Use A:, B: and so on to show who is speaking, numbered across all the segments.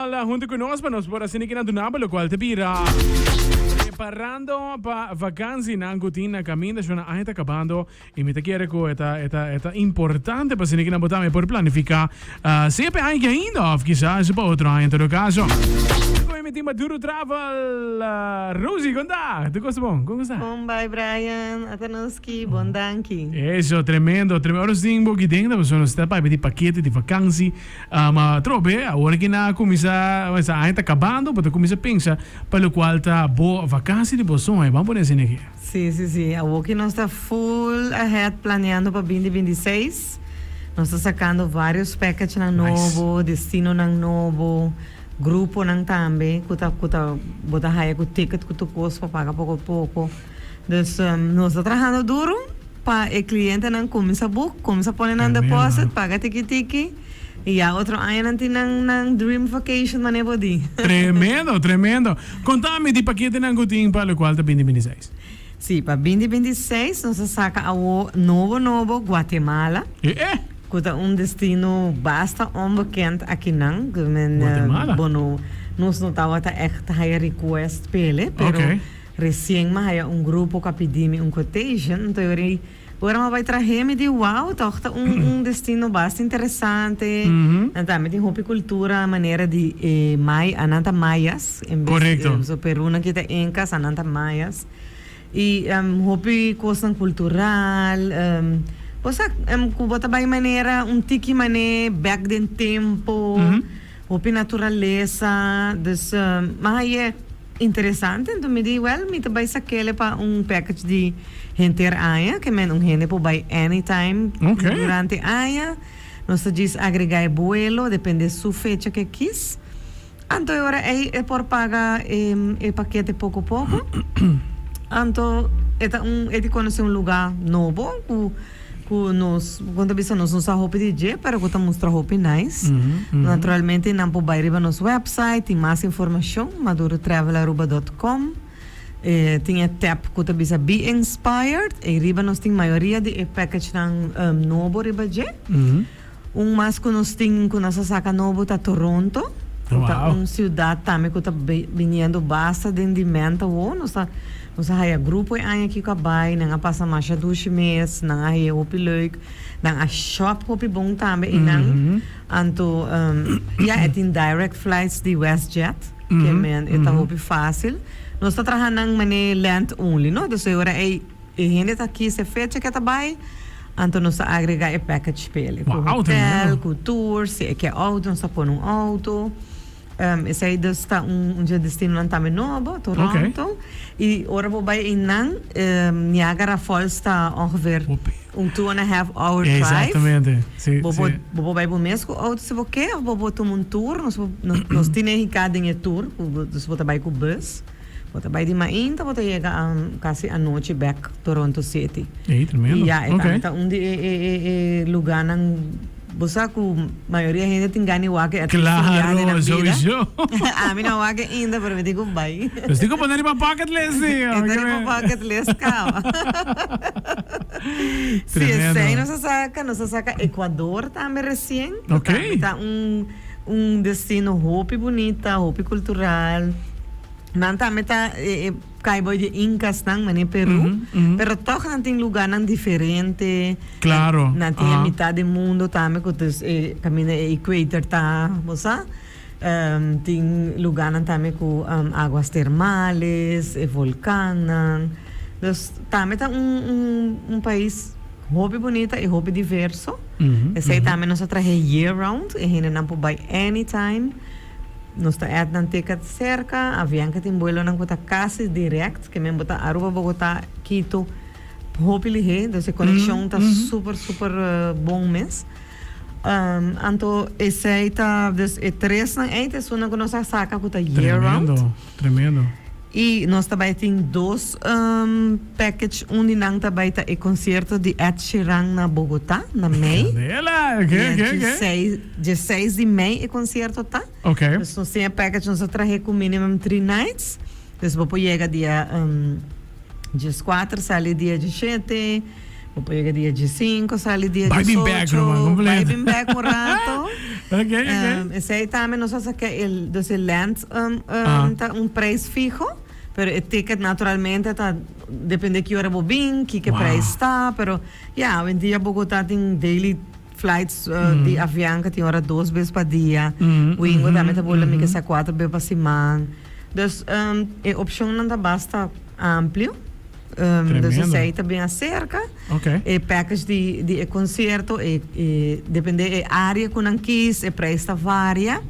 A: Tabla hunto cu nos pa nos por haciendo que na dunaba locual ta bira. Preparando pa vakansi nan cu tin na caminda shona aña ta cabando y mi ta kere cu e ta e ta e ta importante pa haciendo que nan bo tambe por planifica ah sea p'e aña ainda of kisas pa otro aña en todo caso. Cu mi tin Maduro Travel ah Rosie con ta tu cosa bon con cosa? Bon bai Brian,
B: ata nos schi bon danki. Eso, tremendo,
A: tremendo. Ora nos tin bo aquí dentro, nos ta bay di paquete di vakansi. Ma trobe, awor ki nan a kuminsá, esta aña ta kabando, bo ta kuminsá pensa pa lokual ta bo vakansi di bo sueño. Bo a pone asina aki. Sí, sí, sí. Awor
B: ki nos ta full ahead planeando pa bindi binti seis, nos ta sakando vários package-nan nobo, destinonan nobo, gruponan tambe ku ta, ku ta, bo ta haya ku ticket ku tur kos pa paga poko poko. Dus nos ta trahando duru pa e clientenan cuminsa boek, cuminsa pone nan deposit, paga tiki tiki y ya otro aña nan tin nan nan dream vacation manera bo di. Tremendo, tremendo.
A: Contami di paketenan cu tin pa locual ta bindi bindi seis. Si, pa bindi
B: bindi seis nos a saca awo nobo nobo Guatemala. E'e. Cu ta un destino basta onbekend akinan. Guatemala. Bueno,
A: nos
B: no tawata echt haya request pele, pero. Ok. Recien mi haya un grupo cu a pidi mi un quotation, nto yori ora mi bai trahe mi di wow, toch ta un un destino basta interesante, nan ta ami tin hopi cultura a manera di e may, a nan ta mayas, en bes Correcto. di so
A: Perunan ki ta
B: Incas a nan ta mayas, y em hopi cosnan cultural, em cosa em cu bo ta bai manera un tiki mane bek den tempo, hopi naturaleza, dus em mi haye. Interesante, anto mi di, Wèl, mi ta bai sa kele pa un package di henter aña, ke men un hende por bai anytime durante aña. Nos ta djis agregá e buelo, depende su fecha ke kis. Anto e ora ei e por paga e pakete poko poko. Anto e ta un, e di konosé un lugá nobo ku. Ku nos, kon ta bisa nos, nos sa hopi di dje pero ku ta mustra hopi nice. Naturalmente nan por bai riba nos website, tin mas informashon, madurotravelaruba dot com. E tin e tap ku ta bisa Be Inspired, ei riba nos tin mayoria di e package nan nobo riba dje. Un mas cu nos tin cu nos a saca nobo ta Toronto. Cu ta un ciudad tambe cu ta biniendo basta den di menta wo. Nos ta, nos a haya grupo e aña aki cu a bay. Nan a pasa masha dushi mes. Nan a heye hopi leuk. Nan a shop hopi bon tambe. Y nan anto, ya, e tin direct flights di Westjet. Ke men e ta hopi facil. Nos ta traha nan mane land only, no. Dus e ora ey. E hende ta kis e fecha ke ta bai, anto nos ta agrega e package pa elei, ku hotel, ku tour, si e ke outo nos ta pone un outo, esei dus ta un dje destinonan tambe nobo, Toronto, i ora bo bai einan, Niagara Falls ta ongeveer un two and a half hour drive,
A: bo por bo por
B: bai bo mes ku outo si bo ke, of bo por tuma un tour, nos nos tin e hika den e tour, ku dus bo ta bai ku bus. Bo ta bai di mainta bo ta yega casi anochi back Toronto city. Ey tremendo. Ya e
A: tambe ta un di e e
B: e e luganan bo sa cu mayoria hende tin gana di wak e atles un biaha den nan bida. Claro sowieso.
A: Ami no a
B: wak e ainda pero mi tin cu bai. Nos tin cu pone riba
A: bucket list si. E ta riba bucket
B: list caba. Tremendo. Si esey nos a saca nos a saca Ecuador tambe recien. Ok. Tambe ta un. Un destino hopi bunita, hopi cultural. Nan tambe ta kai boy di incasnan, mane Peru. Pero toch nan tin lugarnan diferente. Claro. Nan
A: tin e mitad di
B: mundo tambe cu ta caminda e equator ta, bo sa. tin lugarnan tambe cu aguas termales, e volcannan. Dus tambe ta un pais. Hopi bunita y hopi diverso. Esey tambe nos ta trahe year round. E hendenan por bay anytime. Nos ta at nan ticket cerca. Avian ke tin vuelonan cu ta casi direct. Ke men bo ta Aruba, Bogota, Quito. Hopi lihé. Entonces e conexion ta super, super bon mes. Anto esey ta, dus e tresnan ey ta esunnan cu nos a saca cu ta year round. Tremendo.
A: Y nos ta
B: bay tin dos package un di nan ta bay ta e concierto di Ed Sheeran na Bogota na mei. Candela! Ok, ok, ok. Dje seis di mei e concierto ta. Ok. Dus nos tin e package nos a trahe cu minimum three nights. Dus bo por yega dia. Djes kuater sali dia di shete. Bo por yega dia di
A: sinku
B: sali
A: dia di socho. Bai
B: bin bek
A: loman
B: kompleto. Bai bin
A: bek un
B: rato. Ok,
A: ok. Esei
B: tambe nos a saka e dos e lens ta un prijs fiho, pero e ticket naturalmente ta depende ki ora bo bin, kiko prijs ta, pero ya hoendia Bogota tin daily. Flights di avian cu tin ora dos bes pa dia. Wingo tambe ta bula mi cu sa cuatro bes pa siman. Dus e opcionnan ta basta amplio. Dus esey ta bin acerca. E package di e concierto depende e area cu nan kies, e prijs ta varia.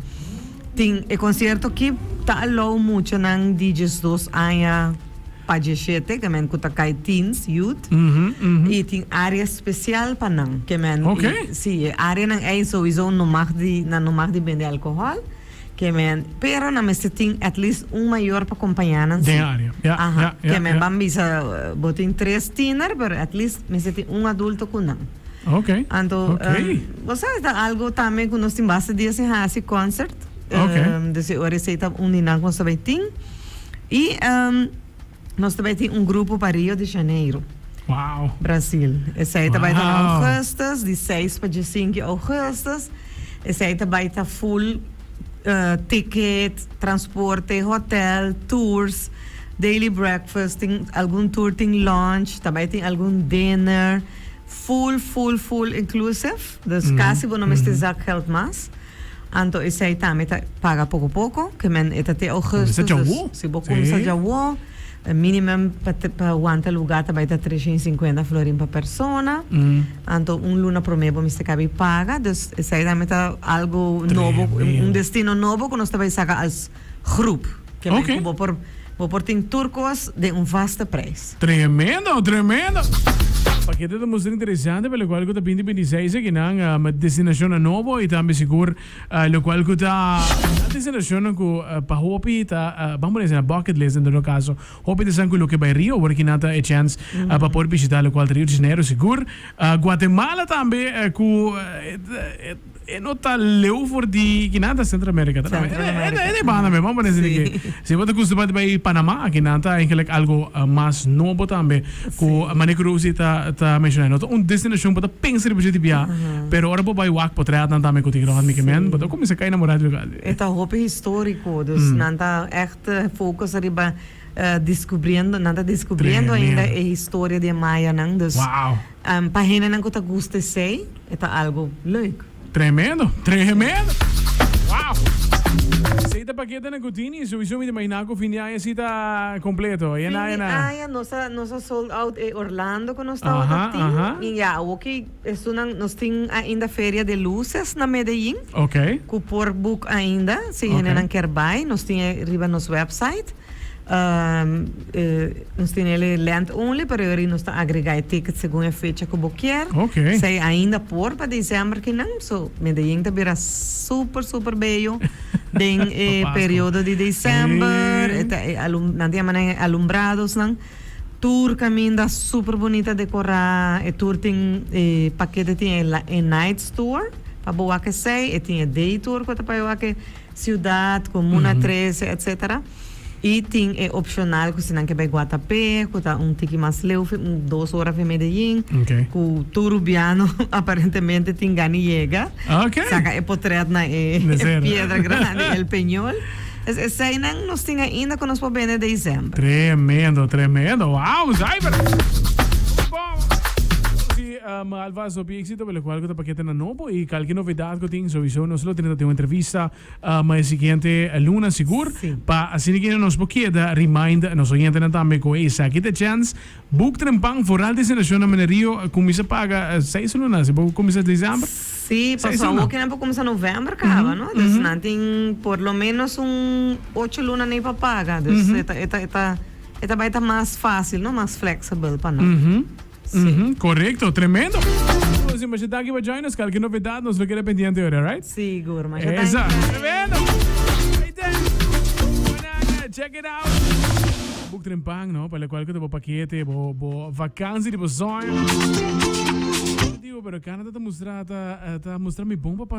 B: Tin e concierto aki ta alou muchanan di diesdos aña. Pa dieshete kemen cu ta cay teens, youth, y tin area special pa nan. Kemen y si e areanan ey souizo no mag di, nan no mag di bende alcohol, kemen, pero nan mester tin at least un mayor pa compaña nan si. Aha,
A: kemen ban
B: bisa bo tin tres tiener, pero at least mester tin un adulto cu nan. Anto, bo sa ta algo tambe cu nos tin basta dies tin haci concert. Okay. Um, dus e ora esei ta uni nan ku nos ta bai tin. I um, nos ta bai tin un grupo pa Rio de Janeiro, Wow.
A: Brasil.
B: Esei ta bai ta na Wow. augustus, di 6 pa 15 augustus. Esei ta bai ta full uh, ticket, transporte, hotel, tours, daily breakfast, tin algun tour tin lunch, ta bai tin algun dinner. Full, full, full inclusive. Dus casi bo no mester zak geld mas. Anto esei tambe ta paga poko poko, ke men e ta te augustus, dus si bo kumsa djawo, e minimum pa pa wanta luga ta bai ta tresha i sinkuenta florin pa persona, anto un luna promé bo mester kabi paga, dus esei tambe ta algu nobo, un destino nobo ku nos ta bai saka als. groep. Ke men ku bo por bo por tin tur kos den un vaste prijs. Tremendo,
A: tremendo! Pakete ta muster interesante pa lokual ku ta binti binti seis akinan, destinashonnan nobo i tambe sigur lokual ku ta nan destinashonnan ku pa hopi ta ban pone asina bucket list en todo kaso. Hopi ta esan ku loke bai Rio awor akinan ta e chèns pa por bishita lokual ta Rio de Janeiro sigur. Guatemala tambe ku. E no ta leu for di ki nan ta Centro America ta Centro America e de banda me vamos poner si si bo ta custumba di bay Panama aki nan ta eigenlijk algo mas nobo tambe cu mane cu Rosie ta ta menciona no ta un destinacion bo ta pensa riba dje di bia pero ora bo bay wak potret nan tambe cu tin Rodney ki men bo ta cuminsa cay enamora di lugar e ta hopi
B: historico dus nan ta echt focus riba descubriendo nan ta descubriendo ainda e historia di e mayanan dus. Pa hendenan cu ta gusta esey e ta algo leuk. Tremendo!
A: Tremendo! Wow! Esey ta paketenan cu Tini. Souiso mi ta imagina cu fin di aña si ta completo. Aya na, aya na. Fin di aña
B: nos a, nos a sold out e Orlando cu nos tawata tin. Y ya awo cu estonan, nos tin ainda Feria de Luces na Medellin. Cu por boek ainda si hendenan kier bay. Nos tin e riba nos website. Nos tin el e land only pero yori nos ta agrega e ticket segun e fecha ku bo kier. Okay. Esei ainda por pa December kinan, so Medellin ta bira super super bello den e periodo di December. E ta e alu nan ta yama nan e alumbrados nan. Tur kaminda super bunita dekorá. E tur tin e pakete tin e nights tur pa bo wak esei, e tin e day tur ku ta pa e wak e. Ciudad, Comuna Trece, etc. Y tin e opcional cu si nan ke bay Guatapé, cu ta un tiki mas leu, fe, un dos hora fe Medellin, Ok. cu tur Rubiano aparentemente tin gani yega, Ok. saca e potret na e, De e ser. piedra grandi, El Peñol. Es eseinan nos tin ainda cu nos por bende december. Tremendo,
A: tremendo. Wow, zuiver. Muy bon. M'a alvas hopi éxito locual cu ta paquete na nobo y calki novedad cu tin sowiso nos lo tene ta tin un entrevista m'a e siguiente luna sigur pa asina que nos por keda remind nos oyentenan tambe cu esaki ta e chance Boek tren pan for al destinacion na Minerio cuminsa paga seis luna si bo cuminsa December Sí, pa seis luna.
B: Sawokinan por cuminsa November caba, no? Dus nan tin por lo menos un ocho luna nei pa paga. Dus e ta e ta e ta e ta bai ta mas facil, no? Mas flexible pa nan. Uhumm correcto
A: tremendo. Nos di masha daki pa join nos kalki novedad nos lo keda pendiente ora right. Sigur masha danki. Esa
B: tremendo
A: ahí ta mananga check it out boek tren pan no pa locual cu ta bo paquete bo bo vakansi di bo soño. Digo pero Canada ta mustra ta mustra mi bon pa.